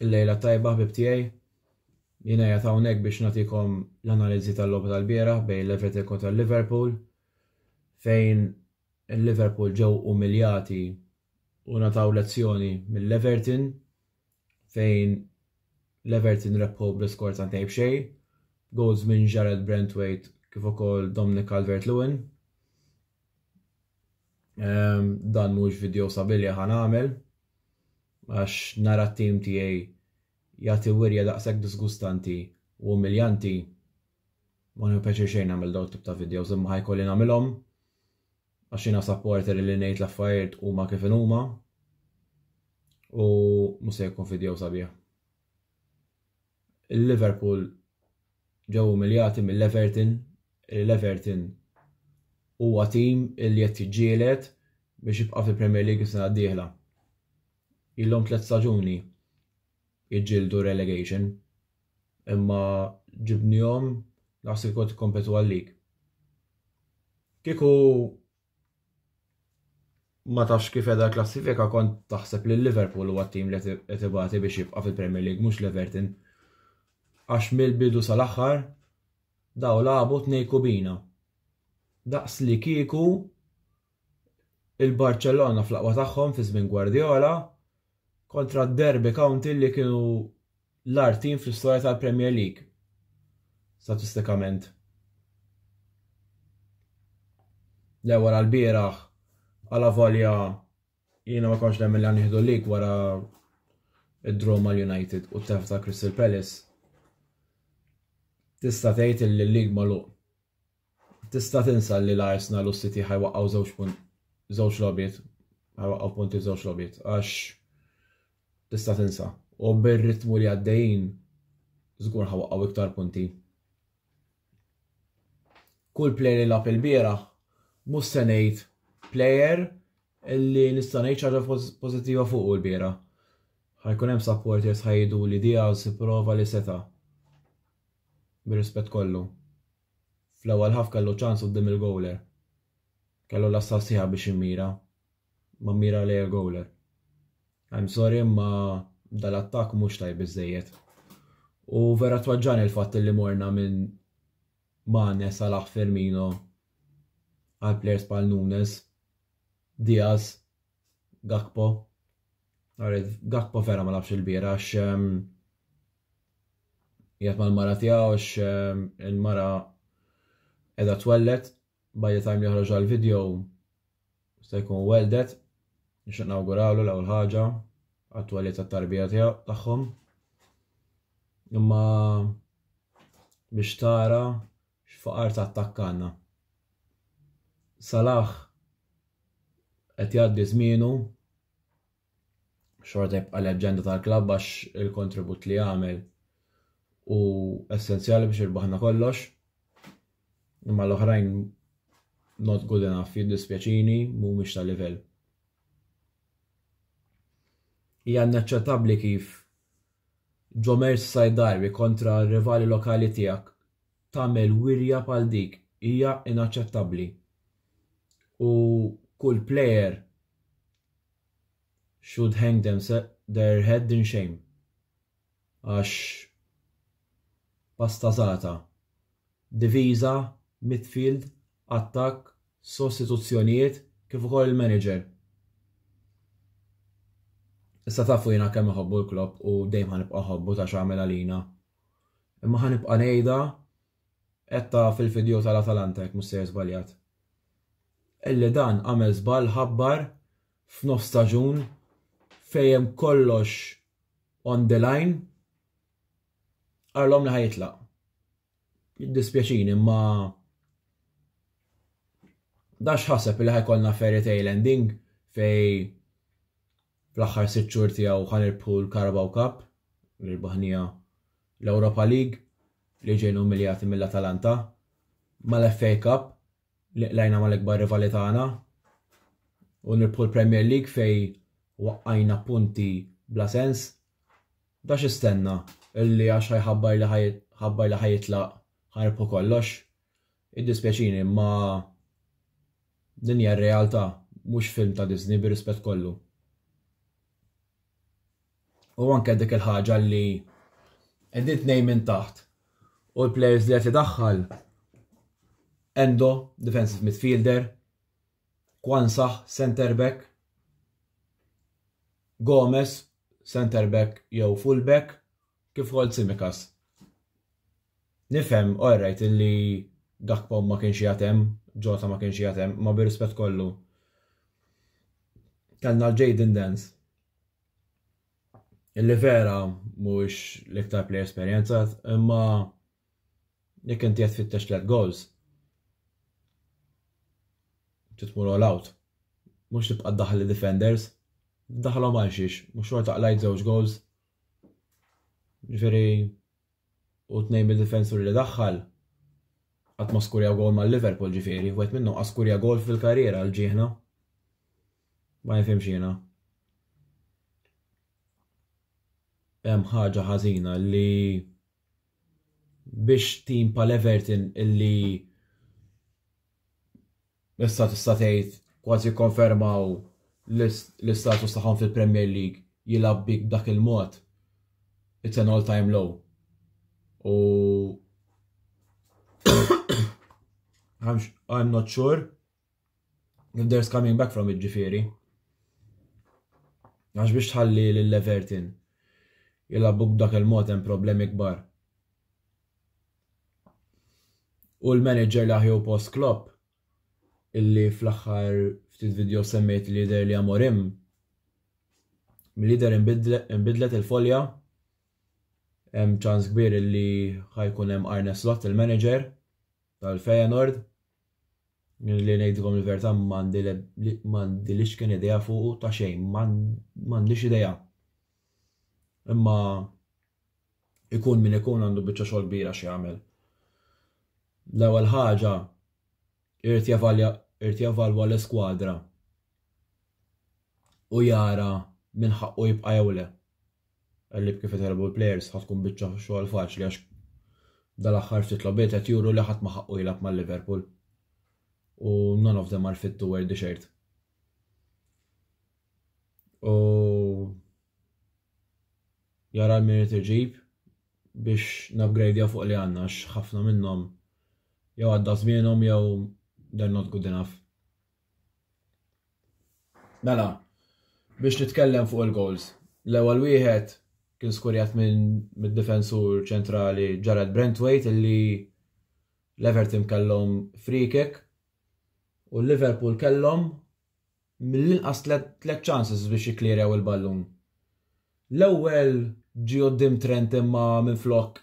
Il-lejla tajba ħbib tiegħi. Jiena qed hawnhekk biex nagħtikom l-analiżi tal-logħba tal-bieraħ bejn Levetek kontra Liverpool fejn il-Liverpool ġew umiljati u nataw lezzjoni mill-Everton fejn l-Everton rebħu bl-iskor ta' ntejb xejn, goals minn Jarrad Branthwaite kif ukoll Dominic Calvert-Lewin. Ehm, dan mhux video sabilja ħan għamel, għax nara t-tim tiegħi jagħti wirja daqshekk disgustanti u umiljanti ma nħu pjaċir xejn nagħmel dawn tip ta' videos imma ħajkolli nagħmilhom. għax jiena supporter illi ngħid l-affarijiet huma kif inhuma u mhux se jkun fideo sabiħ. Il-Liverpool ġew umiljati mill-Everton, l-Everton huwa tim illi qed jiġġieled biex jibqa' fil-Premier League is-sena d-dieħla. Ilhom tliet staġuni jiġġieldu relegation. imma ġibnihom daqs li kont ikkompetu għalik. Kieku ma tafx kif edha l-klassifika kont taħseb li Liverpool huwa t-tim li qed ibati biex jibqa' fil-Premier League mhux l-Everton. Għax mill-bidu sal-aħħar daw labu tnej kubina. Daqs li kieku il-Barcellona fl-aqwa tagħhom fi żmien Guardiola kontra d-Derby County li kienu l-agħar tim fl-istorja tal-Premier League, statistikament. Le wara l-bieraħ, għala volja jiena ma konx nemmen li għanniħdu l-lig wara id-draw mal-United u t-tef ta' Crystal Palace, tista' tgħid li l-lig magħluq. Tista' tinsa li l-Arsenal u s-City ħa jwaqqgħu żewġ punti żewġ logħbiet, ħa jwaqqgħu punti f'żewġ logħbiet għax tista' tinsa. U bir-ritmu li għaddejjin żgur ħa waqqgħu iktar punti. Kull plejer li lagħab il-bieraħ mhux se ngħid plejer li nista' ngħid xi ħaġa pożittiva fuqu l-bieraħ. Ħa jkun hemm supporters ħa jgħidu li Diaz ipprova li seta' bir-rispett kollu. Fl-ewwel half kellu ċans quddiem il-gowler. Kellu l-għassa sħiħa biex jimmira, ma mmira lejn il-gowler. I'm sorry imma dal-attakk mhux tajb biżżejjed. U vera twaġġani l-fatt li morna minn Mane, Salah, Firmino għal players bħal Nunes, Diaz, Gakpo. Għarid, Gakpo vera ma labx il-bira għax ehm, jgħat mal-mara tiegħu għax ehm, il-mara edha twellet, by the time li joħroġ għal-video sta jkun weldet, nixtieq nawgurawlu l-ewwel ħaġa għat-twellet tat-tarbija tiegħu tagħhom. Imma biex tara X'faqar ta' attakk għandna. Salah qed jgħaddi żmienu, xorta jibqa' leġġenda tal-klabb għax il-kontribut li għamel u essenzjali biex irbaħna kollox. Imma l-oħrajn not good enough jiddispjaċini mhumiex ta' livell. Hija naċċettabbli kif Ġo Merseyside Derby kontra rivali lokali tiegħek tagħmel wirja bħal dik hija inaċċettabbli u kull player should hang their head in shame għax pastazata diviża midfield attakk sostituzzjonijiet kif ukoll il-manager Issa tafu jiena kemm iħobbu l-Klopp u dejjem ħanibqa' ħobbu ta' x'għamel għalina. Imma ħa nibqa' ngħidha għedtha fil-fideo tal-Atalanta jekk mhux sejjer żbaljat. Illi dan għamel żball ħabbar f'nofs staġun fejn hemm kollox on the line qalhom li ħajitlaq. Jiddispjaċini imma dax ħaseb li ħajkollna fairy tale ending fej Fl-aħħar sitt xhur tiegħu ħa nirbħu l-Carabao Cup li rbaħniha, l-Europa League li ġejna umiljati mill-Atalanta, mal-FA Cup li qlajna mal-ikbar rivali tagħna u nirbħu l-Premier League fejn waqqajna punti bla sens. Da x'istenna, illi għax ħa jħabbar li ħa jitlaq ħa nirbħu kollox? Iddispjaċini imma din hija r-realtà mhux film ta' Disney bir-rispett kollu. U anke dik il-ħaġa li qegħdin tnejn minn taħt u l-players li qed idaħħal Endo, defensive midfielder, Kwansah, center back, Gomez, center back jew full back, Kif ukoll Tsimikas. Nifhem, all right, illi Gakpo ma kienx qiegħed hemm, Jota ma kienx qiegħed hemm, imma bir-rispett kollu. Kellna l-Jayden Dance Illi vera mhuwiex l-iktar play esperjenzat, imma jekk inti qed fittex tliet goals. Titmur all out. Mhux tibqa' daħli defenders, daħlhom għal xiex, mhux xorta qlajt żewġ goals. Ġifieri u tnejn mid-difensuri li daħħal qatt ma skurjaw gol ma' Liverpool ġifieri, wieħed minnhom qas skurja gol fil-karriera għal ġieħna. Ma nifhimx jiena. Hemm ħaġa ħażina li biex tim pal Everton illi Issa tista' tgħid kważi kkonfermaw l-istatus tagħhom fil-Premier League jilgħab bik b'dak il-mod, it's an all time low. U I'm not sure if there's coming back from it ġifieri. Għax biex tħalli l-Everton jilabuk b'dak il-mod hemm problemi kbar. U l-manager li aħjew post Klopp illi fl-aħħar ftit video semmejt li jidher li Amorim mill-lider imbidlet il-folja hemm ċans kbir illi ħajkun hemm Arne Slot il-manager tal-Feyenoord li ngħidilkom il-verità m'għandi li x'kien idea fuq ta' xejn m'għandix idea. Imma Ikun min ikun għandu biċċa xogħol kbira x'jagħmel. L-ewwel ħaġa irid jevalja irid jevalwa l-iskwadra u jara min ħaqqu jibqa' jew le. Għalli kif itħelbu l-plejers ħad tkun biċċa xogħol faċli għax dal-aħħar ftit lobiet qed juru li ħadd ma ħaqqu jilgħab mal-Liverpool. U none of them are fit to wear the shirt. U jara l-min irid iġib biex nupgradejaw fuq li għandna għax ħafna minnhom jew għadda żmienhom jew they're not good enough. Mela, biex nitkellem fuq il-goals. L-ewwel wieħed kien skurjat minn mid-difensur ċentrali Jared Brentwaite illi l-Everton kellhom free kick u l-Liverpool kellhom mill-inqas tliet chances biex jikklirew il-ballun. L-ewwel ġie quddiem Trent imma minflok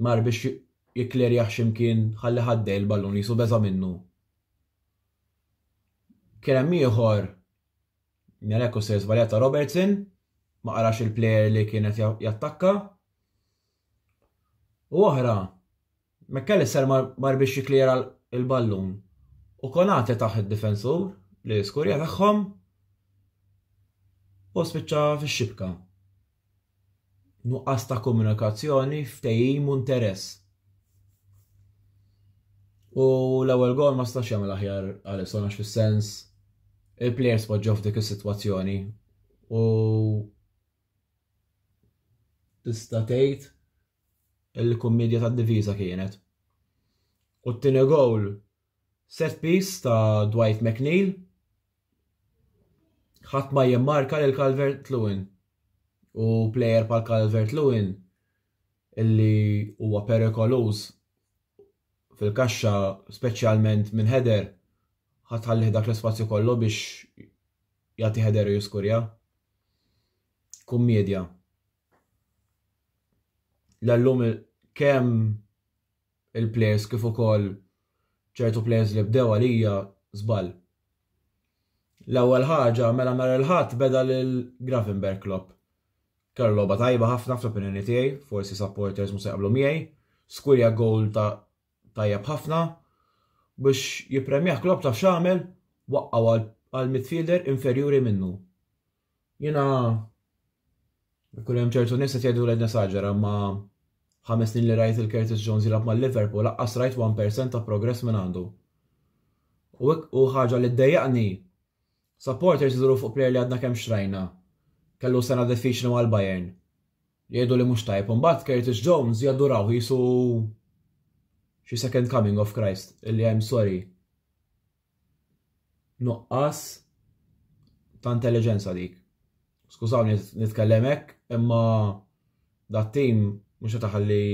mar biex jikklerjah x'imkien ħalli ħaddej il-ballun qisu beża' minnu. Kien hemm ieħor Meleko se żbaljata Robertson ma qarax il-plejer li kien qed jattakka. U oħra, McAllister mar biex jikklijera l-ballun u Konate taħ id-difensur li skurja tagħhom u spiċċa fix-xibka. Nuqqas ta' komunikazzjoni, ftehim u interess. U l-ewwel gol ma stax jagħmel aħjar Alisson għax fis-sens il-plejers poġġew f'dik is-sitwazzjoni u Tista' tgħid li kummedja tad-difiża kienet. U t-tieni gowl set piece ta' Dwight McNeil. Ħadd ma jimmarka lil Calvert Lewin. U plejer bħal Calvert Lewin illi huwa perikoluż fil-kaxxa speċjalment minn header ħa tħallih dak l-ispazju kollu biex jagħti header u jiskurja. Kummedja. L-llum kemm il-players kif ukoll ċertu players li bdew għalija żball. L-ewwel ħaġa mela nhar il-Ħadd beda lil Gravenberg Klopp. Kellha logħba tajba ħafna fl-opinjoni tiegħi, forsi supporters mhux se jaqblu miegħi. Skurja goal ta' tajjeb ħafna. Biex jippremjah Klopp taf x'għamel? Waqqgħu għal midfielder inferjuri minnu. Jiena ikun hemm ċertu nies qed jgħidu li nesaġera ma ħames snin li rajt il-Curtis Jones jilgħab mal-Liverpool laqqas rajt 1% ta' progress minn għandu. U ħaġa li ddejjaqni Supporters iduru fuq plejer li għadna kemm xtrajna, kellu sena diffiċli mal-Bayern, jgħidu li mhux tajjeb u mbagħad Curtis Jones jaddurawh qisu xi second coming of Christ illi I'm sorry. Nuqqas ta' intelligenza dik. Skużawni nitkellem hekk, imma dat tim mhux qed iħalli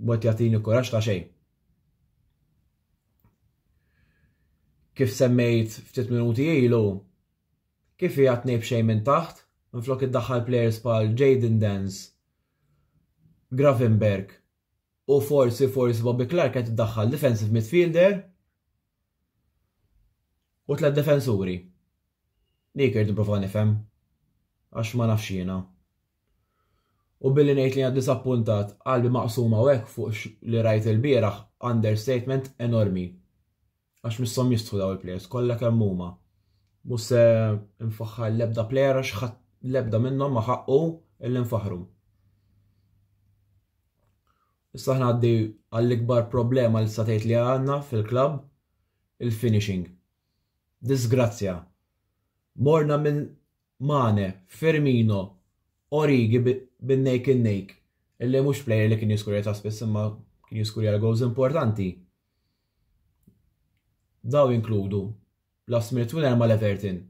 mod jagħtini kuraġġ ta' xejn. Kif semmejt ftit minuti ilu, kif hija tnejn b'xejn minn taħt, minflok iddaħħal plejers bħal Jayden Danns, Gravenberch u forsi, forsi Bobby Clarke qed iddaħħal defensive midfielder u tliet difensuri. Dik irid nipprova nifhem għax ma nafx jiena. U billi ngħid li jiena diżappuntat, qalbi maqsuma u hekk fuq x'li rajt ilbieraħ, understatement enormi. Għax misshom jistħu dawn il-players kollha kemm huma. Mhux se nfaħħar l-ebda player għax ħadd l-ebda minnhom ma ħaqqu illi nfaħħru. Issa aħna għaddi għall-ikbar problema li tgħid li għandna fil-klabb, il-finishing. Disgrazzja. Morna minn Mane, Firmino, Origi bin neck in neck illi mhux player li kien jiskurja ta' spiss imma kien jiskurja l-goals importanti. Daw jinkludu last minute winner ma' l-Everton,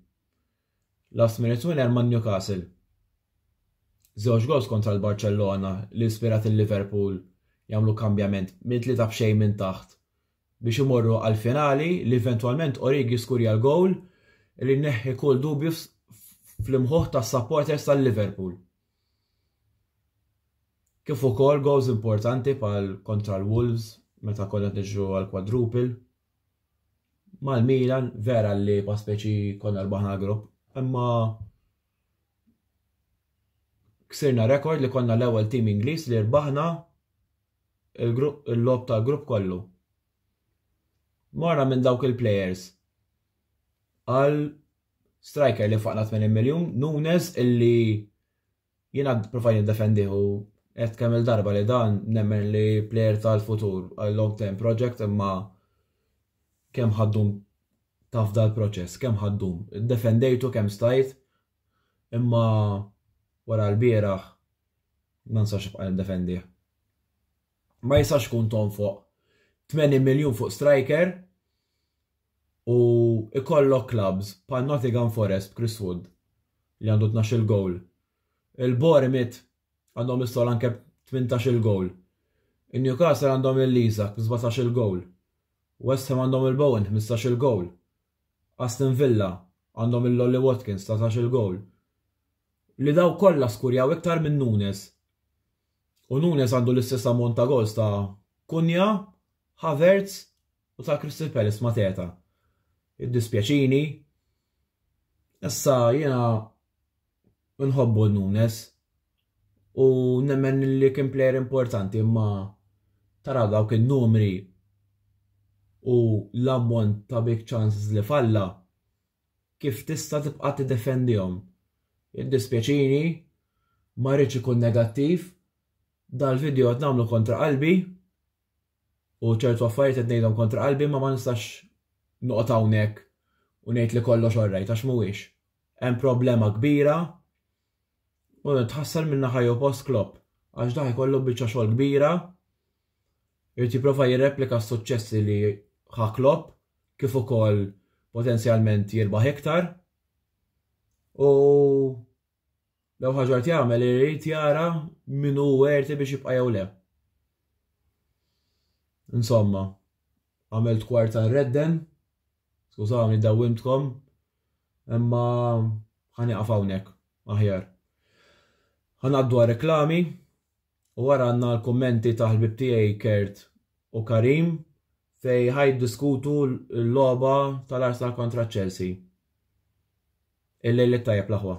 last minute winner ma' Newcastle, żewġ goals kontra l-Barċellona li ispirat il-Liverpool jagħmlu kambjament minn tlieta b'xejn minn taħt biex imorru għall-finali li eventwalment Origi skurja l-gowl li neħħi kull dubju fl-imħuħ tas-supporters tal-Liverpool. Kif ukoll gowls importanti bħal kontra l-Wolves meta konna qed niġru għal quadruple. Mal-Milan vera li pa speċi konna rbaħna grupp, imma ksirna rekord li konna l-ewwel tim Ingliż li rbaħna il-logħob tal-grupp kollu. Morna minn dawk il-plejers għal striker li faqna 80 miljun, Nunes illi jiena provajt niddefendih u qed kemm il-darba li dan nemmen li plejer tal-futur għal long term project imma kemm ħaddum taf dal-proċess, kemm ħaddum. Defendejtu kemm stajt imma wara l-bieraħ ma nistax nibqa' nindefendih. Ma jistax ikun tonfoq 80 miljun fuq striker u ikollok clubs pa' Nottingham Forest Chris Wood li għandu 12 il-gowl. Il-Bormit għandhom is-sol anke 18 il-gowl. Il-Newcastle għandhom il-Lizak 17 il-gowl. West Ham għandhom il-Bowen 15 il-gowl. Aston Villa għandhom lil Ollie Watkins tlatax-il gowl li dawk kollha skurjaw iktar minn Nunes. U Nunes għandu l-istess ammont ta' goals ta' Cunha, Havertz u ta' Crystal Palace ma' Teta. Iddispjaċini. Issa jiena Nħobbu Nunes u nemmen li kien plejer importanti imma taraw dawk in-numri u l-ammont ta' big chances li falla kif tista' tibqa' tiddefendihom. Jiddispjaċini, ma rridx ikun negattiv, dal-video qed nagħmlu kontra qalbi u ċertu affarijiet qed ngħidhom kontra qalbi imma ma nistax noqgħod hawnhekk u ngħid li kollox all right għax mhuwiex. Hemm problema kbira u tħassar minn naħa jew post Klopp għax dah jkollu biċċa xogħol kbira irid jipprova jirreplika s-suċċessi li ħa Klopp kif ukoll potenzjalment jirbaħ iktar u L-ewwel ħaġa qed jagħmel irid jara min hu werti biex jibqa' jew le. Insomma, għamilt kwart ta' redden, skużawni dawwimtkom, imma ħaniqaf hawnhekk aħjar. Ħanaddu għal reklami, U wara għandna l-kummenti ta' ħbieb tiegħi Kurt u Karim fejn ħa jiddiskutu l-logħba tal-Arsenal kontra Chelsea. Il-lejl it-tajjeb l-aħwa.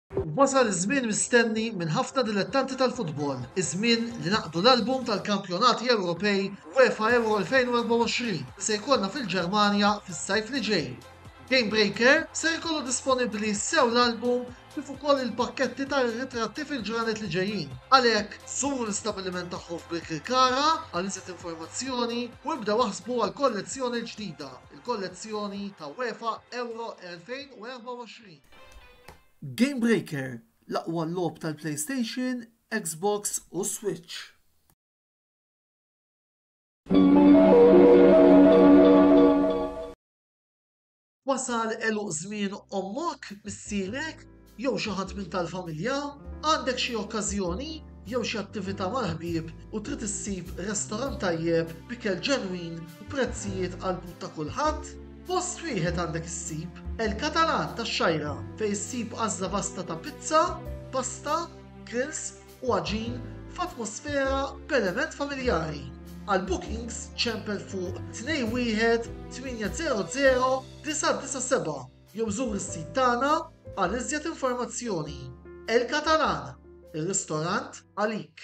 Wasal iż-żmien mistenni minn ħafna dilettanti tal-futbol, iż-żmien li naqdu l-album tal-Kampjonati Ewropej UEFA Euro 2024 li se jkollna fil-Ġermanja fis-sajf li ġej. Gamebreaker ser ikollu disponibbli sew l-album kif ukoll il-pakketti tar-ritratti fil-ġranet li ġejjin. Għalhekk, żuru l-istabbiliment tagħhom f'Birkirkara għal iżjed informazzjoni u ibdew aħsbu għall-kollezzjoni l-ġdida, il-kollezzjoni ta' UEFA Euro 2024. Game Breaker, l-aqwa logħob tal-PlayStation, Xbox u Switch. Wasal għeluq żmien ommok, missierek, jew xi ħadd minn tal-familja, għandek xi okkażjoni jew xi attività mal-ħbieb u trid issib restorant tajjeb b'ikel ġenwin u prezzijiet għall-but ta' kulħadd? Post wieħed għandek issib El-Catalan tax-Xgħira fejn issib għażla vasta ta' pizza, pasta, grills u għaġin f'atmosfera b'element familjari. Għal bookings ċempel fuq 21 800 997 jew żur is-sit tagħna għal iżjed informazzjoni. El-Catalan, ir-ristorant għalik.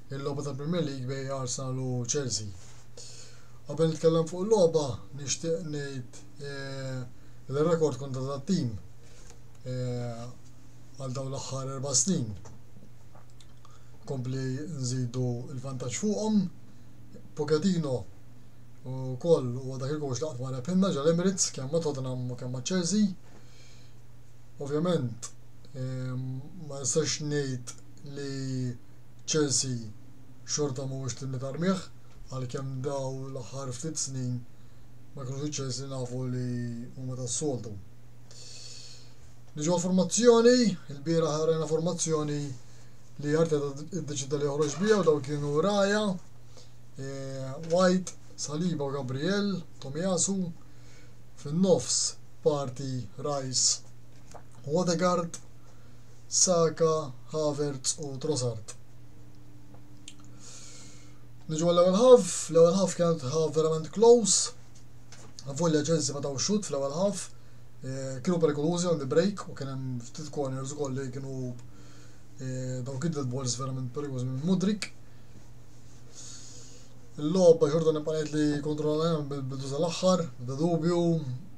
il-logħba tal-Premier League bejn Arsenal u Chelsea. Qabel nitkellem fuq il-logħba nixtieq ngħid eh, li rekord kontra tat-tim eh, għal dawn l-aħħar erba' snin kompli nżidu il-vantaġġ fuqhom. Pochettino u koll u dak il-għox laqt ma repinna ġal Emirates kemm ma Tottenham u kemm ma Chelsea. Ovvjament ehm, ma nistax ngħid li Chelsea xorta mhuwiex tim li tarmih, għalkemm dawn l-aħħar ftit snin ma kinux iċ-Chelsea li nafu li huma tas-soltu. Niġu għall-formazzjoni, ilbieraħ rajna formazzjoni li Arteta ddeċida li joħroġ biha u dawn kienu Raja, e, White, Saliba u Gabriel, Tomiasu, fin-nofs parti Rice u Odegaard, Saka, Havertz u Trossard. Niġu għall-ewwel ħaf, l-ewwel ħaf kienet ħaf verament close. Volja Chelsea ma taw xut fl-ewwel ħaf. Eh, kienu perikolużi on the break u kien hemm ftit corners ukoll li kienu eh, daw kid balls verament perikolużi minn Mudrik. Il-logħba xorta nibqgħet li kontrollajna bil-bidu tal-aħħar, bda dubju,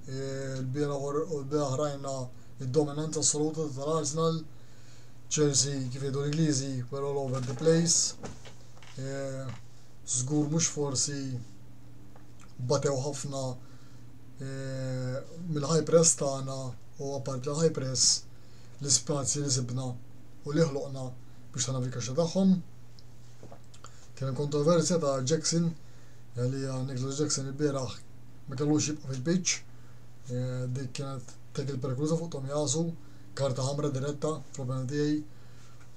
eh, l-bieraħ rajna id-dominanza assoluta tal-Arsenal, Chelsea kif jgħidu l-Ingliżi were all over the place. Eh, żgur mhux forsi batew ħafna eh, mill-high press tagħna u apart l-high press l-ispazji li sibna u li ħloqna biex tagħna fil-kaxxa tagħhom. Kien hemm kontroversja ta' Jackson li Nicholas Jackson il-bieraħ ma kellux jibqa' fil-pitch. Eh, dik kienet Dak il-perikoluża fuq Tomiyasu, karta ħamra diretta fl-opinjoni tiegħi.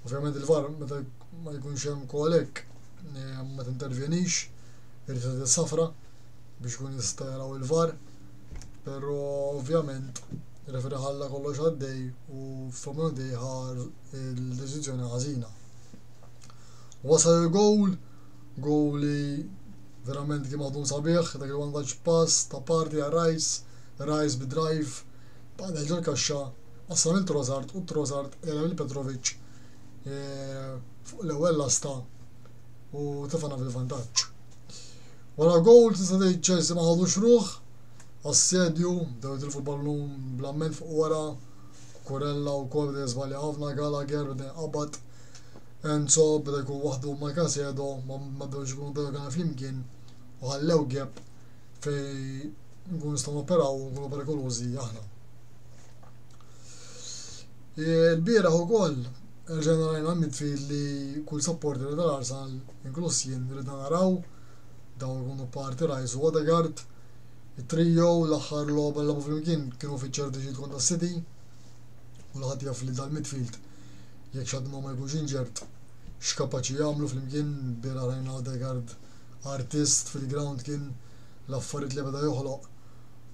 Ovvjament il-VAR meta ma jkunx hemm call hekk ma tintervjenix, irid tagħti safra biex ikun jista' jaraw il-VAR. Però ovvjament referi ħalla kollox għaddej u fl-opinjoni tiegħi ħa l-deċiżjoni ħażina. Wasal il-gowl, gowl li verament kien maħdum sabiħ, dak il-vantaġġ pass ta' Partey għar-Rice, Rise bi drive b'Anel ġol-kaxxa, qassam lil Trossard u Trossard qela' lil Petrovic fuq l-ewwel lasta u tefgħna fil-vantaġġ. Wara gowl tista' tgħid Chelsea ma ħadux ruħ, assedju, bdew jitilfu l-ballun bl-amment fuq wara, Kurella wkoll beda jiżbalja ħafna, Gallagher beda jinqabad, Enzo beda jkun waħdu ma' Casedo, ma bdewx ikunu Dogan flimkien u ħallew gap fejn nkunu nistgħu noperaw u nkunu perikolużi aħna. Il-bieraħ ukoll rġajna rajna midfield li kull supporter tal-Arsenal inkluż jien ridna naraw dawn ikunu parti Rice u Odegaard it-trio l-aħħar logħba l flimkien kienu fiċ-ċertu ġid kontra City u l-ħadd jaf li dal-midfield jekk xadd ma jkunx inġert x'kapaċi jagħmlu flimkien bieraħ rajna Odegaard artist fil-ground kien l-affarijiet li beda joħloq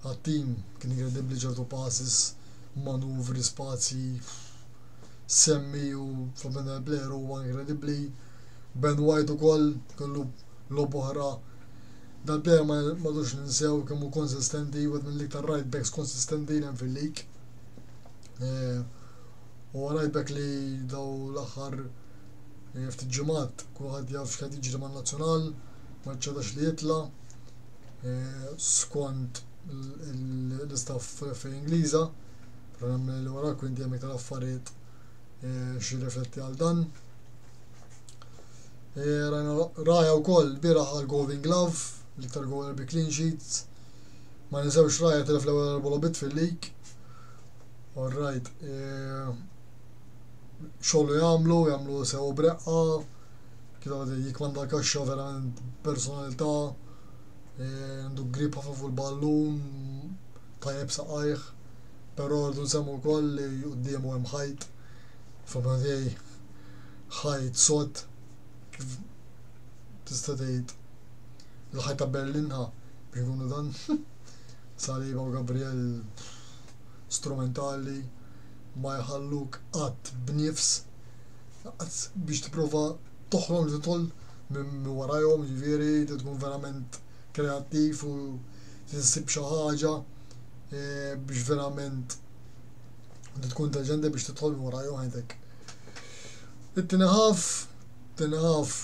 għat-tim kien inkredibbli ċertu passes, manuvri, spazji semmi u Fabien Blair huwa inkredibbli. Ben White ukoll kellu lob oħra. Dal-player ma madux ninsew kemm hu konsistenti, wieħed mill-iktar right backs konsistenti li hemm fil-lig. Eh, u għarajbek li dawn l-aħħar eh, ftit ġimgħat kulħadd jaf x'qed jiġri man-Nazzjonal, ma ċċedax li jitla eh, skont l-istaff fl-FA Ingliża, però li wara kwinti hemm iktar affarijiet eh, xi rifletti għal dan. Raja wkoll bira għal Golden Glove, l-iktar gol bi clean sheets. Ma nisewx Raja telef l-ewwel erba' lobit fil-lig all right, xogħol jagħmlu, jagħmlu sew breqqa, kienu għadin jikmanda l-kaxxa verament personalità, għandu grip ħafna fuq il-ballun, tajjeb saqajh, però rridu nsemmu wkoll li quddiemu hemm ħajt, fil-opinjoni tiegħi ħajt sod kif tista' tgħid il-ħajt ta' Berlinha biex nkunu dan saliba u Gabriel strumentali ma jħalluk qatt b'nifs biex tipprova toħrog tidħol minn warajhom jiġifieri trid tkun verament kreattiv u trid issib xi ħaġa biex verament trid tkun intelliġenti biex tidħol minn warajhom għidek. It-tieni ħaf, it-tieni ħaf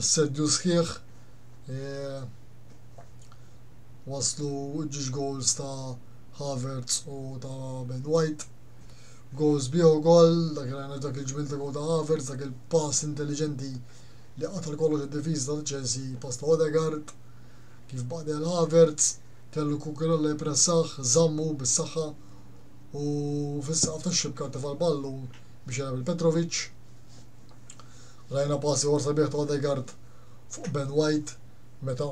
assedju sħiħ waslu ż-żewġ gowls ta' Havertz u ta' Ben White. Gowls bih ukoll, dak li dak il-ġmiel ta' gowl ta' Havertz, dak il-pass intelliġenti li qatar kollox id-difiża ta' Chelsea, pass ta' Odegaard, kif baqdi għal Havertz, kellu Cucurella jippressah, żammu bis-saħħa u fis-saqaf tax-xibka ntefa' l-ballun biex jilgħab lil Petrovic. Rajna pass ieħor sabiħ ta' Odegaard fuq Ben White meta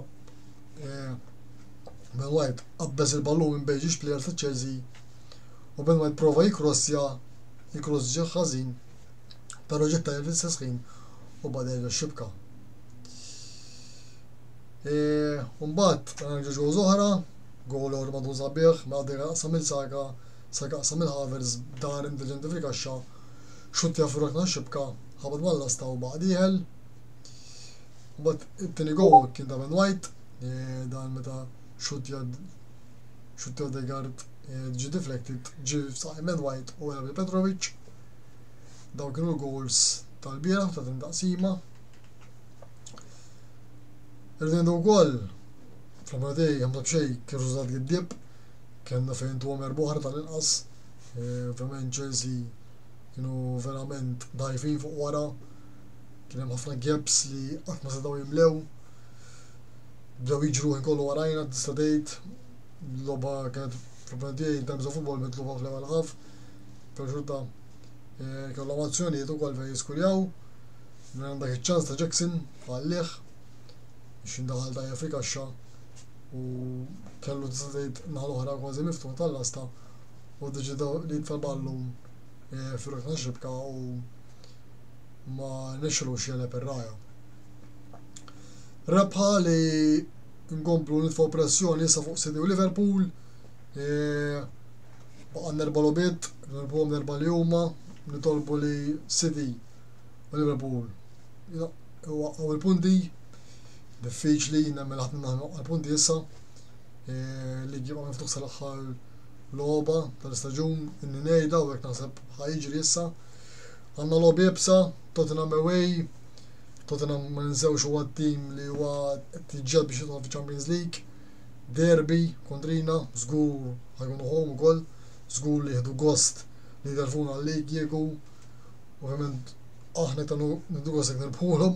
Ben White qabbeż il-ballun minn bejn żewġ plejers ta' Chelsea u Ben White prova jikkrossja, il-kross ġie ħażin però ġie ttajjeb fl-istess ħin u bada jerġa' xibka. E, mbagħad għandna ġewġ gowl oħra, gowl ewwel madun sabiħ, Madeira mela qasam il-Saka, Saka qasam il-Havers, dar intelligenti fil-kaxxa, xuttja fir-rokna xibka, ħabad mal-lasta u baqa' dieħel. But it-tieni goal kien ta' Ben White, eh, dan meta xutja xutja Odegaard eh, ġi deflected, ġi f'saqajn Ben White u għalab li Petrovic. Daw kienu l-goals tal-bieraħ ta' din taqsima. Irridu wkoll fl-aħħar dej hemm xejn kien riżultat giddib, kellna fejn tuhom erba' oħra tal-inqas. Eh, ovvjament Chelsea kienu verament dajfin fuq wara kien hemm ħafna gaps li qatt ma setgħu jimlew. Bdew jiġru ħin kollu warajna tista' tgħid logħba kienet fl-opinjoni tiegħi times of football mitluba fl-ewwel ħaf. Perxuta eh, kellhom azzjonijiet ukoll fejn jiskuljaw. Minn għandek iċ-ċans ta' Jackson għallih biex jindaħal ta' fi kaxxa u kellu tista' tgħid naħa l-oħra kważi miftuħ tal-lasta u deċidaw li jitfa' ballun eh, fil-rokna xibka u ma nexxilux jegħleb ir-ragħaj. Rebħa li nkomplu nitfgħu pressjoni issa fuq City u Liverpool. E, Baqa' nerba logħbiet, nerbuhom nerba li huma, nitolbu li City u Liverpool waqqgħu il-punti. Diffiċli nemmel ħadd minna waqqgħu il-punti issa. E, li ġibqa' miftuħ sal-aħħar logħba tal-istaġun, inni ngħidha u hekk naħseb ħajġri issa. Għandna logħob iebsa, Tottenham away, Tottenham ma ninsewx huwa t-tim li huwa qed jiġġieled biex jidħol fiċ-Champions League, derby kontrina, żgur ħa jkunu home ukoll, żgur li jieħdu gost li jderfuna l-league kieku, ovvjament aħna iktar nieħdu gost jekk nirbħulhom.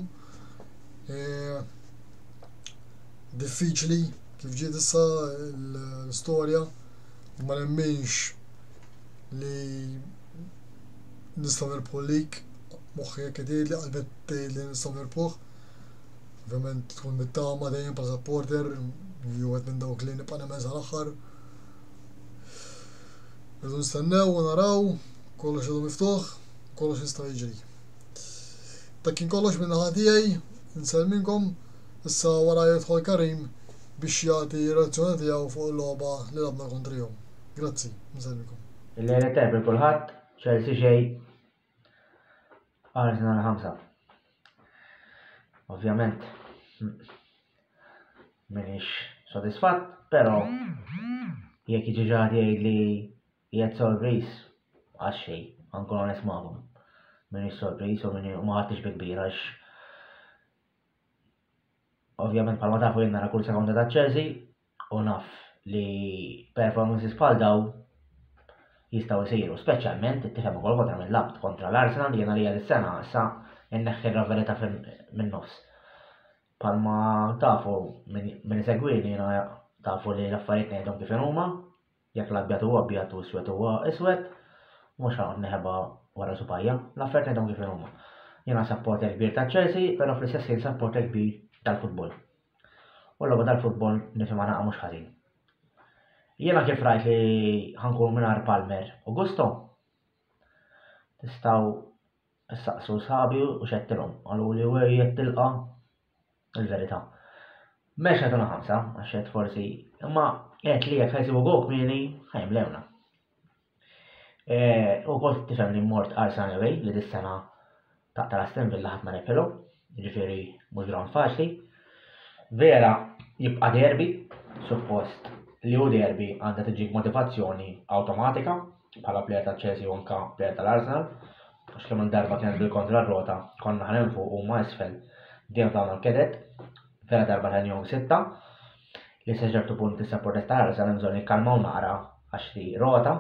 Diffiċli kif ġiet issa l-istorja, ma nemminx li nistgħu nirbħu lik, moħħi hekk jgħidli, qalbi tgħidli li nistgħu nirbħuh. Ovvjament tkun mit-tama dejjem bħala supporter, wieħed minn dawk li nibqa' nemmen sal-aħħar. Irridu nistennew u naraw, kollox ilu miftuħ, kollox jista' jiġri. Dak kien kollox minn naħa tiegħi, nselminkom, issa wara jidħol Karim biex jagħti reazzjoni tiegħu fuq il-logħba li labna kontrihom. Grazzi, nselminkom. Il-lejla tajb il kulħadd, Chelsea xej, Arsenal ħamsa. Ovvjament, minix sodisfatt, pero jekk jiġi ġaħat jgħid li jgħid sorpriż, għax xej, għankun għones maħum. Minix sorpriż u minni maħatix bi kbir għax ovvjament palma tafu jenna kull sekonda ta' Chelsea, U naf li performances bħal daw jistgħu jsiru, speċjalment ittifhem ukoll kontra minn labt kontra l-Arsenal li jiena li dis-sena issa inneħħi r-raverità min-nofs. Palma tafu minn segwini jiena tafu li l-affarijiet ngħidhom kif huma, Jekk l-abjad huwa abjad u iswed huwa iswed, mhux ħaqgħod neħeba wara subajja. L-affarijiet ngħidhom kif huma. Jiena sapporter kbir ta' Chelsea, però fl-istess ħin sapporter kbir tal-futbol. U l-logħba tal-futbol nifhimha naqa' mhux ħażin. Jiena kif rajt li ħankun mingħajr Palmer u Gusto, tistgħu issaqsu sħabi u xettilhom. Qalu li u jettilqa' Il-verità. M'għedx ngħidulha ħamsa, għax għedt forsi, imma għedt li jekk ħajsibu Gog kmieni, ħajmlewna. E, u kont tifhem li mort għal Sunaway li dis-sena taqta' l-Aston Villa ħadd ma rebħilhom, jiġifieri mhux ground faċli. Vera jibqa' derbi, suppost li hu derbi għandha tiġik motivazzjoni awtomatika bħala plejer ta' Chelsea u anka plejer tal-Arsenal għax kemm-il darba kienet bil-kontra r-rota, konna aħna 'l fuq u huma isfel, dejjem f'dawn il-keded, vera darba ta' njom sitta, li sa ċertu punt issa protesta l-għarsa hemm bżonn jikkalmaw naqra għax hi rota,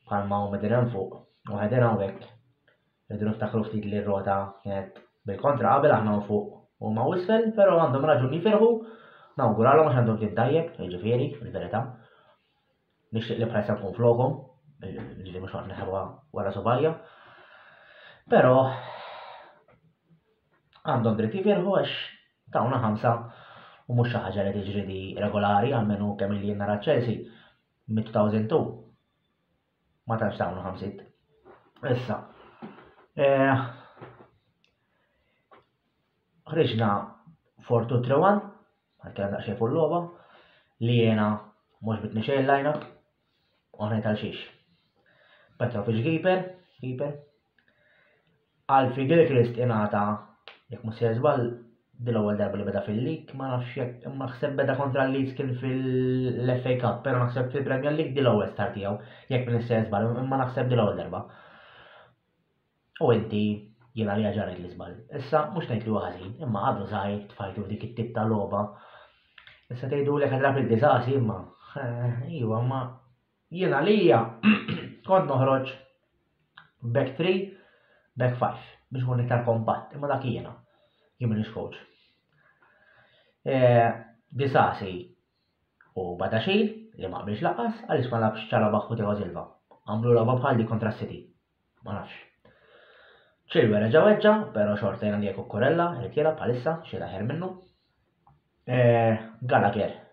bħalma huma din hemm fuq u ħedin hawnhekk, irridu niftakru ftit li r-rota kienet bil-kontra qabel aħna 'l fuq u huma isfel, però għandhom raġun jifirħu, nawguralhom għax għandhom tim tajjeb, jiġifieri, fil-verità. Nixtieq li bħalissa nkun flokhom, li mhux ħafna ħelwa wara subajja. Però għandhom dritt jifirħu għax tawna ħamsa u mhux xi ħaġa li tiġri di regolari għalmenu kemm li nara Chelsea mit-2002 ma tantx tawna ħamsit. Issa, eh, ħriġna 4-2-3-1 Għalkemm daqsxejn fuq logħba, li jiena mhux bitni xejn l-lineup, u ħnejt għal xiex. Petrovic Giper, Giper. Alfie Gilchrist ingħata jekk mhux se żball dil-ewwel darba li beda fil-lig, ma nafx jekk imma ħseb beda kontra l-Leeds kien fil-FA Cup, però naħseb fil-Premier League dil-ewwel start tiegħu, jekk minn se żball, imma naħseb dil-ewwel darba. U inti, jiena għalija ġarrajt l-iżball. Issa, mhux ngħid li huwa ħażin, imma għadu żgħir tfajtu f'dik it-tip ta' logħba. Issa tgħidulek għad rapil diżasi, imma iva, imma jien għalija kont noħroġ back 3, back 5 biex ikun iktar kompatt, imma dak jiena jien m'iniex coach. Eh, Disasi u Badaxil li ma qbilx laqas għaliex ma labx ċala baħħu tiegħu Silva. Għamlu logħba bħal di kontra City. Ma nafx. Chilwell reġa' weġġa', però xorta jiena li Cucurella irid jilgħab bħalissa xi aħjar minnu. Eh, Gallagher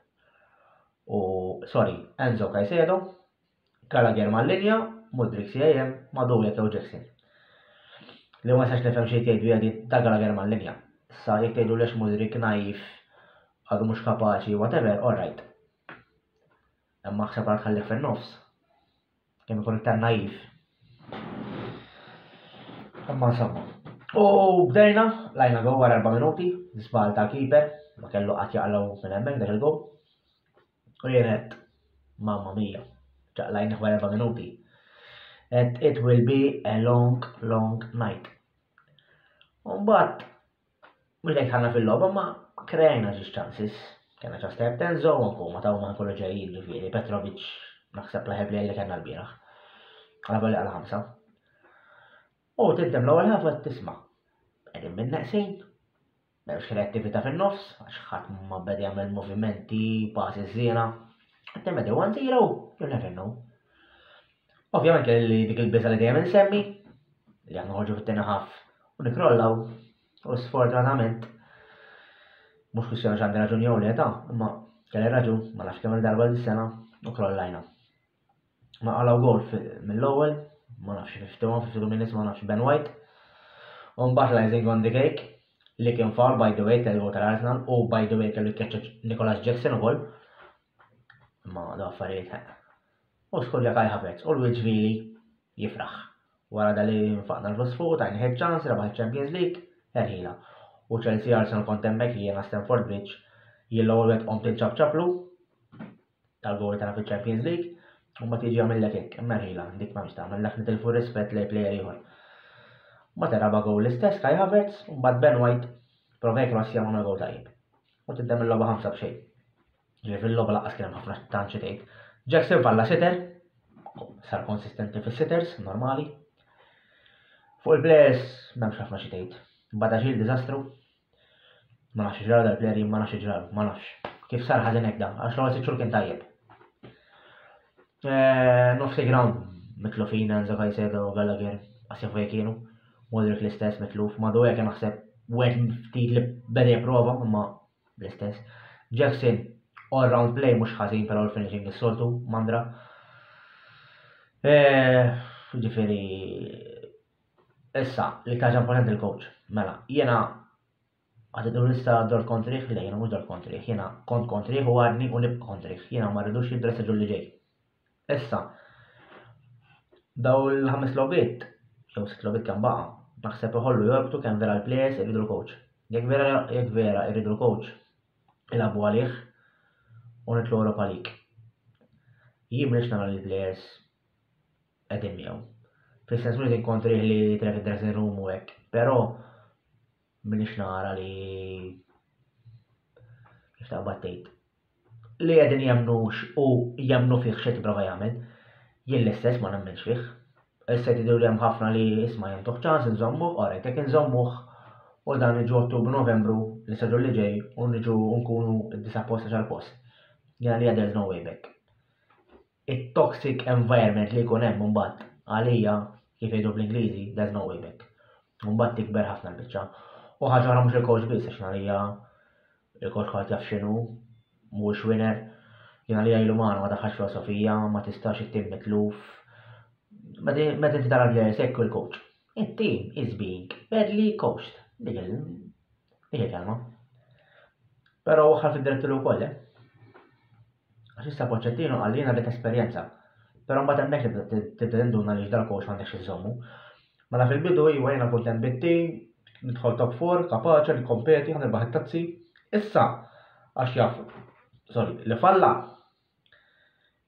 u sorry, Enzo Caicedo, Gallagher mal-linja, Mudrik CAM, Madu jekk jew Jackson. Li ma jistax nifhem xejn tgħidu jadi ta' Gallagher mal-linja. Sa jekk tgħidu lex Mudrik naif għadu mhux kapaċi whatever, all right. Imma ħseb għal tħallih fin-nofs. Kien ikun iktar naif. Imma insomma. U bdejna, lajna gol wara erba' minuti, żball ta' keeper, ma kellu qatt jaqlaw minn hemmhekk dak il-gol. U jien qed mamma mija, ċaqlajnih wara erba' minuti. Qed it will be a long, long night. U mbagħad Mhux dejjem dħalna fil-logħba imma kreajna żewġ chances. Kellna ċans ta' Denzo u anke huma ta' huma jkunu ġejjin ġifieri Petrovic naħseb l-aħjar plejjer li kellna l-bieraħ. Għala volja għal ħamsa. U tibdem l-ewwel ħafa tisma' qegħdin minn neqsin, m'hemmx kreattività fin-nofs, għax ħadd ma beda jagħmel movimenti, passes żiena. Temmedew 1-0, you never know. Ovvjament kelli dik il-biża' li dejjem insemmi, li aħna ħorġu fit-tieni ħaf u nikrollaw, u sfortunatament mhux kwistjoni x'għandi raġun jew le ta' imma kelli raġun ma nafx kemm darba dis-sena u krollajna. Ma qalaw gol mill-ewwel, ma nafx fiftu, fiftu minnis ma nafx Ben White. U mbagħad l-icing on the cake li kien foul by the way tal-gol tal-Arsenal u by the way kellu jkeċċeġ Nicolas Jackson ukoll. Ma da affarijiet ħeq. U skur jekk ħafez, u l-wiċ vili jifraħ. Wara da li nfaqna l-flus fuq, tajni ħed ċans, rebaħ il-Champions League, erħila. U Chelsea Arsenal kont hemmhekk jiena Stamford Bridge, jien l-ewwel wieħed qomt inċabċablu tal-gowli tagħna fil-Champions League, u ma tiġi għamillek hekk, imma erħila, dik ma tagħmel dak nitilfu rispett lej plejer ieħor. Ma teraba gowl l-istess Kai Havertz, u mbagħad Ben White provek ma sjamuna gowl tajjeb. U tiddemm il-logħba ħamsa b'xejn. Ġifieri fil-logħba laqqas kien hemm ħafna tant xi tgħid. Jackson falla sitter, sar konsistenti fis-sitters normali. Fuq il-players m'hemmx ħafna xi tgħid. Bada xil diżastru. Ma nafx ġraw dal-player ma nafx ġraw, ma nafx. Kif sar ħażin hekk dan, għax l-ewwel sitt xhur kien tajjeb. Eh, nofs il-ground mitlufin Enzo Caicedo u Gallagher għasja fuq kienu. Modric l-istess mitluf, madu hekk naħseb wieħed ftit li beda jipprova imma l-istess. Jackson all round play mhux ħażin però l-finishing is-soltu mandra. Eh, ġifieri issa li kaġa importanti l-coach. Mela, jiena Għad idur issa dor kontrih, le jiena mhux dor kontrih, jiena kont kontrih u għadni u nibqa' kontrih, jiena ma rridux jidressa ġulli ġej. Issa, daw il-ħames lobiet, jew sitt lobiet kemm baqa', naħseb iħollu jorbtu kemm vera l-plejers irridu l-coach. Jekk vera jekk vera irridu l-coach, ilagħbu għalih u nitlu Europa League. Jien m'iniex nara li l-plejers qegħdin miegħu. Fl-istess minut inkontri li tref id-dressing room u hekk, però Minix nara li kif taqbad tgħid li qegħdin jemnux u jemnu fih xejn tipprova jagħmel. Jien l-istess ma nemmenx fih. Issa jtidu li hemm ħafna li isma' jentuħ ċans inżommuh, orajt jekk inżommuh u dan iġu Ottubru Novembru li saġu li ġej u niġu nkunu d-disa post għal post. Jena li there's no way back. it-toxic environment li jkun hemm imbagħad għalija kif jgħidu bl-Ingliżi there's no way back. Imbagħad tikber ħafna l-biċċa. U ħaġa oħra mhux il-coach biss għax għalija il-coach ħadd jaf x'inhu mhuwiex winner. Jien għalija ilu magħna ma daħħax filosofija, ma tistax it-tim mitluf. Meta inti tara l-players hekk il-coach. It-tim is being badly coached. Dik il-kelma. Però waħħal fid-direttur ukoll, eh? Għax issa Pochettino qal li jien rrid esperjenza. Però mbagħad hemmhekk tibda tibda tinduna li x'dal coach m'għandekx iżżommu. Mela fil-bidu iva jiena kont hemm bit-tim, nidħol top 4, kapaċi, nikkompeti, ħa nirbaħ it-tazzi. Issa għax jaf sorry, li falla.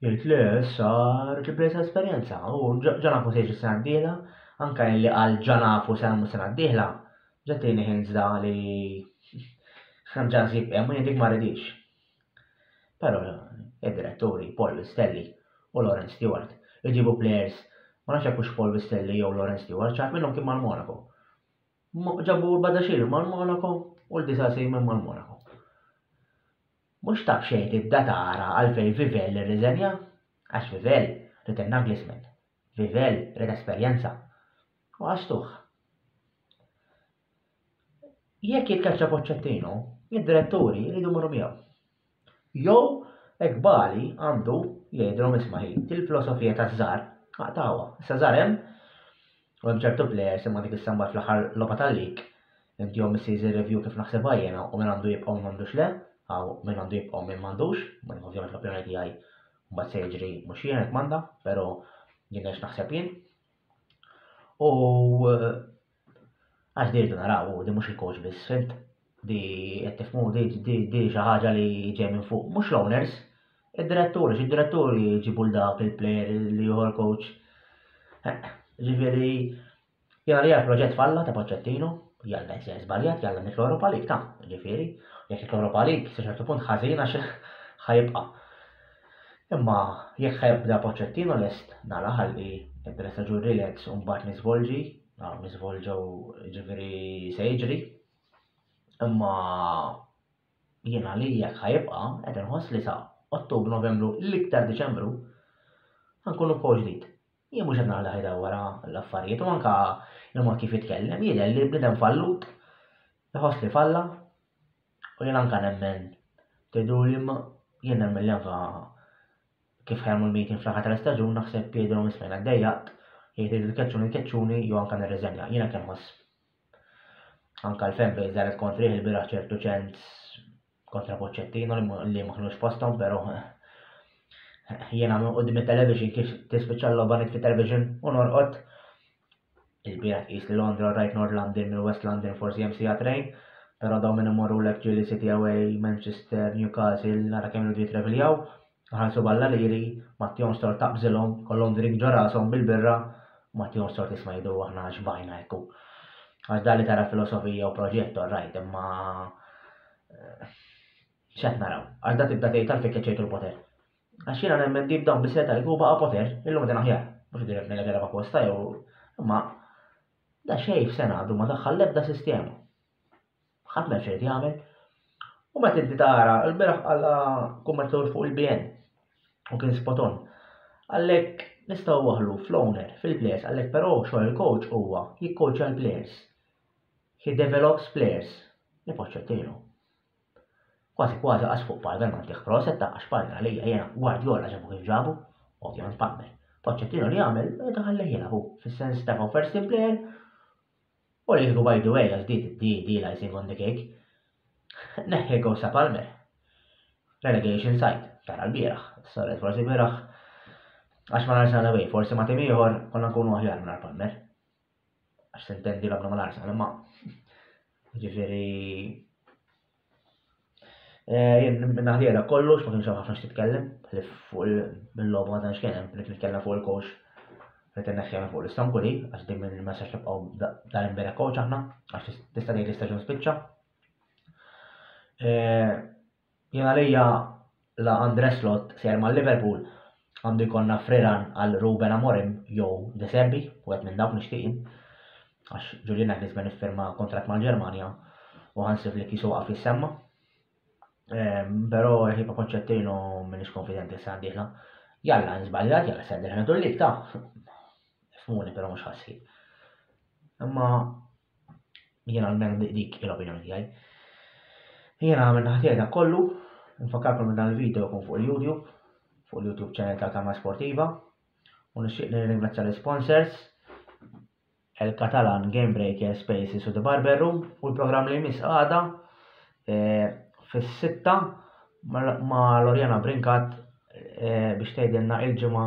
Jgħid li issa rrid il-presa esperjenza u ġanafu se jiġi sena d-dieħla, anke li qal ġanafu se nagħmlu sena d-dieħla, ġettieni ħinżda li ħanġa nsib hemm u jien dik ma rridix. Però id-diretturi Paul Vistelli u Laurence Stewart iġibu plejers ma nafx jekk hux Paul Vistelli jew Laurence Stewart xi ħadd minnhom kien mal-Monaco. Ġabu l-Badaxxir mal-Monaco u l-Disasi minn mal-Monaco. Mhux ta' b'xejn tibda tara għalfejn Vivell irriżenja, għax Vivell ried in-Naglisman, Vivell ried esperjenza u għax tuħ. Jekk jitkeċċa Pochettino, id-diretturi jridu jmorru miegħu. Jew hekk Bali għandu jgħidilhom isma' hi, il-filosofija ta' Żar aqtgħuha. Issa Żar hemm u hemm ċertu plejers imma dik is-samba fl-aħħar logħba tal-lig inti jew missiż ir-review kif naħsibha jiena u min għandu jibqa' u min m'għandux le, hawn min għandu jibqa' u min m'għandux, imma ovvjament l-opinjoni tiegħi mbagħad se jiġri mhux jiena kmanda, però jien hekk naħseb jien. U Għax di rridu naraw, di mhux il-coach biss, fimt? Di qed tifhmu di xi ħaġa li ġej minn fuq, mhux l-owners, id-diretturi, xi diretturi jġibu l dawk il-plejer li ieħor coach. Ġifieri jiena li proġett falla ta' Poċċettino, jalla jsir żbaljat, jalla nitlu Europa League ta' ġifieri, jekk nitlu Europa League, sa ċertu punt ħażin għax ħajibqa'. Imma jekk ħa jibda Pochettino lest nara ħalli peress ta' ġu relax u mbagħad niżvolġi, naraw niżvolġew ġifieri se jiġri. Imma jiena li jekk ħa jibqa' qed inħoss li sa Ottubru Novembru l-iktar Diċembru ħankunu b'kow ġdid. Jien mhux qed nara li ħajda wara l-affarijiet u anke il-mod kif jitkellem jidher li bniedem fallut iħoss li falla U jien anka nemmen, tgħiduli imma jien nemmen li anka kif ħajmu l-meeting fl-aħħar tal-istaġun naħseb jgħidilhom ismajna dejjaqt, jgħid irid tkeċċuni tkeċċuni jew anka nirriżenja. Jien hekk inħoss. Anka l-fan base daret kontrih il-bieraħ ċertu ċens kontra Poċċettino li ma kinux posthom, però jiena minn qudiem it-television kif tispiċċa l-logħba fit-television u norqod Il-bieraħ tqis li Londra u rajt North London mill-West London forsi hemm siegħa train, però dawn minn imorrulek ġieli City Away, Manchester, Newcastle nara kemm iridu jittraveljaw, iħallsu b'Alla liri, ma tihomx tort taqbżilhom, ikollhom drink ġo rashom bil-birra, ma tihomx tort isma' jgħidu aħna xbajna hekk hu. Għax dan li tara filosofija u proġett all right, imma x'qed naraw? Għax da tibda tgħid għalfejn keċċejtu l-poter. Għax jiena nemmen li b'dawn bis-seta li baqa' Poter, illum qegħdin aħjar. Mhux dirett minn għedha apposta jew imma da xejn f'sena għadu ma daħħal l-ebda sistema. Ħadd ma xejn jagħmel. U meta inti tara l-beraħ għala kummertur fuq il-BN u kien spoton. Għalhekk nistgħu waħlu fl-owner, fil-players, għalhekk però xogħol il-coach huwa jikkoċja l-players. He develops players. Nipoċċettilu. Kważi kważi qas fuq Palmer m'għaddih Kroos qed tgħaqqax Palmer għalija jiena Guardiola ġabu kif ġabu, ovvjament Palmer. Pochettino li għamel meta ħallih jilgħab hu, fis-sens tefgħu first team player u li kieku by the way għax di di di l-icing on the cake. Neħħi gows ta' Palmer. Relegation site, tara l-bieraħ, s-solet forsi bieraħ għax ma l-Arsenal away, forsi ma tim ieħor konna nkunu aħjar minn Palmer. għax se ntendi l-għabna mal-ars għal ma. Ġifiri. Eh, jien naħdiela kollox, ma kienx hemm ħafna x'titkellem, li fuq il-logħba ma tantx kien hemm, li nitkellem fuq il-coach li tinneħħi fuq l-Istanbuli, għax din minn ma sax nibqgħu dan imbera coach aħna, għax tista' tgħid l-istaġun spiċċa. Eh, Jien għalija la Andre Slot sejjer ma' Liverpool għandu jkollna friran għal Ruben Amorim jew De Zerbi, wieħed minn dawk nixtieq jien. Għax Julian Nagelsmann iffirma kontratt mal-Ġermanja u Hansi Flick jisu waqaf jissemma. Ehm, però ħiba Pochettino m'iniex konfidenti s-sena d-dieħla. Jalla nżbaljat, jalla s-sena d-dieħla tul lik ta' fmuni però mhux ħassib. Imma Jiena almenu dik hi l-opinjoni tiegħi. Jiena għamil naħtiegħi dak kollu, nfakkarkom li dan il-video jkun fuq il-YouTube, fuq il-YouTube channel ta' Kamra Sportiva, u nixtieq li nirringrazzja l-sponsors, El Catalan, Game Breaker, Spaces u The Barber Room, u l-programm li jmiss għada e, fis-sitta ma' Lorjana Brinkat e, biex tgħidilna il-ġimgħa